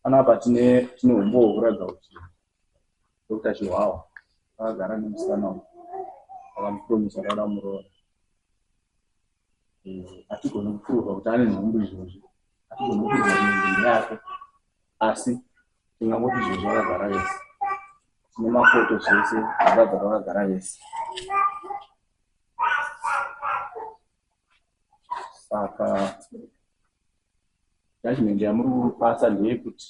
Panapa tine tine umbo hwekuratidza kuti Dr. Chihwawa akagara nemusikana uyu akamupromisa kuti ada muroora. Hatigoni kuprova kuti ane nhumbu izvozvi, hatigoni kuprova nhumbu yake, asi tingangoti izvozvi akagara vese. Tine mafoto zvese zvakabva pakagara vese. saka judgment yamuri kupasa ndeyekuti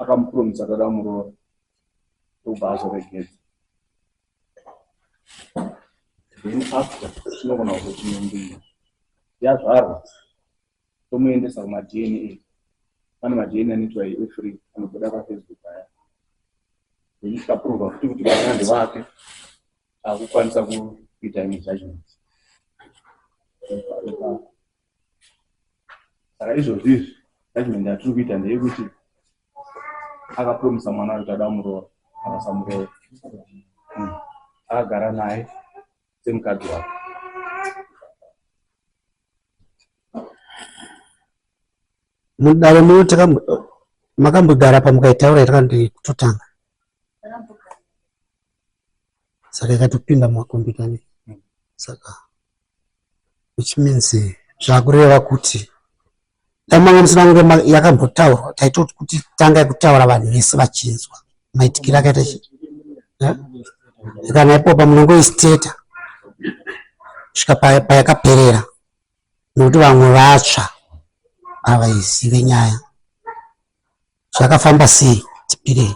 akamupromisa akada muroora obva azoregedza then after tinogona kuzotinyambira yazvarwa tomuendesa kumadna pane madna anoitwa efree anobuda pafacebook aya then tikaprova futi kuti vana ndevake akukwanisa kuita imwe judgment saka izvozvi izvi judgment yatiri kuita ndeyekuti akapromisa mwana kuti ada muroora akasamuroora hmm. akagara naye semukadzi wake mudare muno makambogara pamukaitaura iri kanditotanga saka ikatopinda mumakombiyuta ne saka which means zvakureva kuti dai manga musina kunge yakambotaurwa taitoti kuti tanga kutaura vanhu vese vachinzwa maitikiro akaita chi eh? kana ipopa munongoisteta svika payakaperera nokuti vamwe vatsva havaizive nyaya zvakafamba sei tipirei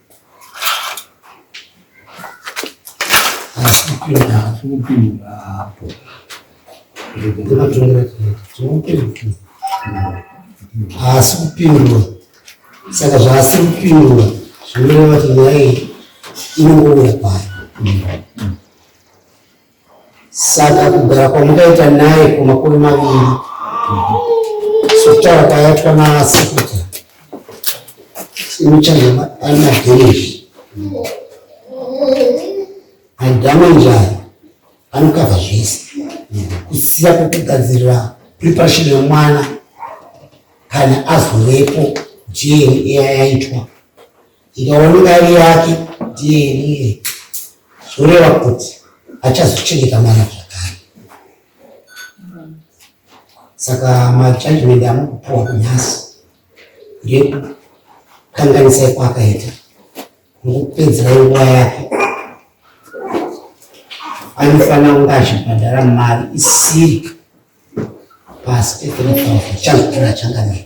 haasi kupindura saka zvaasi kupindura zvinoreva kuti nyaya iyi inongouya paya Saka kugara kwamukaita naye kwemakore maviri sokutaura kwayatwa naseketa imuchange ari madhemezhi adhama njaya anokava zvese kusiya kwekugadzirira preparation yemwana kana azovepo jeni iya yaitwa Ndikaona mari yake ndiye zvoreva kuti achazochengeta mwana zvakare. Saka majudgment amukupuwa kunyasi ndekukanganisai kwaakaita nokupedzera nguva yake anofanira kunge achibhadhara mari isiri pasi pe 3 000 chazvokira changanei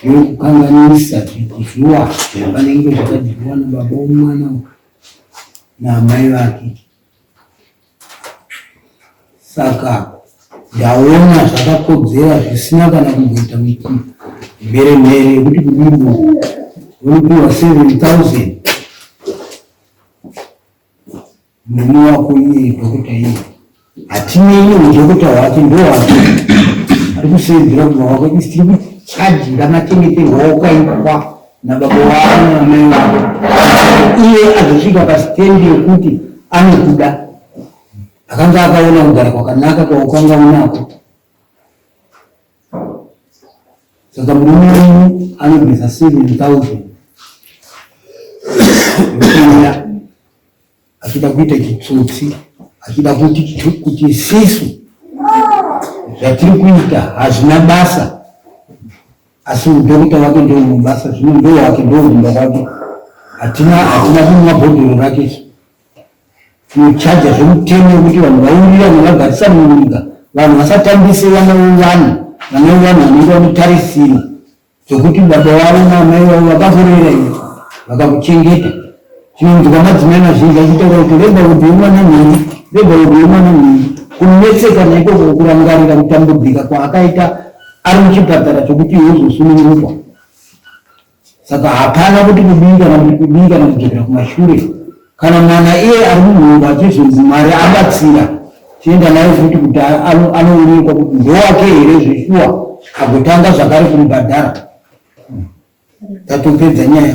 Kukanganisa zvikuzuwa zvakanenge zvakadyiwa nababa womwana naamai vake. Saka ndaona zvakakodzera zvisina kana kumboita miti mhere mhere yekuti kudimbo unopiwa 7000 Mwana wako iye dhokota iye hatinei neudhokota hwake ndohwake ari kuseedzera kuva wako isi tiri kuchajira machengeterwawo kwaitwa nababa wavo namai wavo iye azosvika pasitendi yekuti anokuda akanga akaona kugara kwakanaka kwaukanga unako saka murume wenyu anobvisa seven thousand achida kuita chitsotsi achida kuti kuti isisu zvatiri kuita hazvina basa asi udokita wake ndounobasa zvino ndo wake ndoumba wake hatina hatina kumwa bhodhoro rake tinochaja zvemutemo wekuti vanhu vaurira navagarisa munyika vanhu vasatambise vana vevana vana vevana vanenge vanotarisira Sokuti baba vavo naamai vavo vakakurera iwe, vakakuchengeta. Tinonzwa madzimai mazhinji achitaura kuti rega kudii mwana mhiri, rega kudii mwana mhiri. Kunetseka naikoko kurangarira kutambudzika kwaakaita ari muchipatara chokuti iwe uzosunungurwa. Saka hapana kuti kudii kana kuti kudii kana kudzokera kumashure. Kana mwana iye ari munhomba achizonzi Mwari abatsira tienda naye futi kuti anoonekwa kuti ndowake here zveshuwa agotanga zvakare kumubhadhara tatopedza nyaya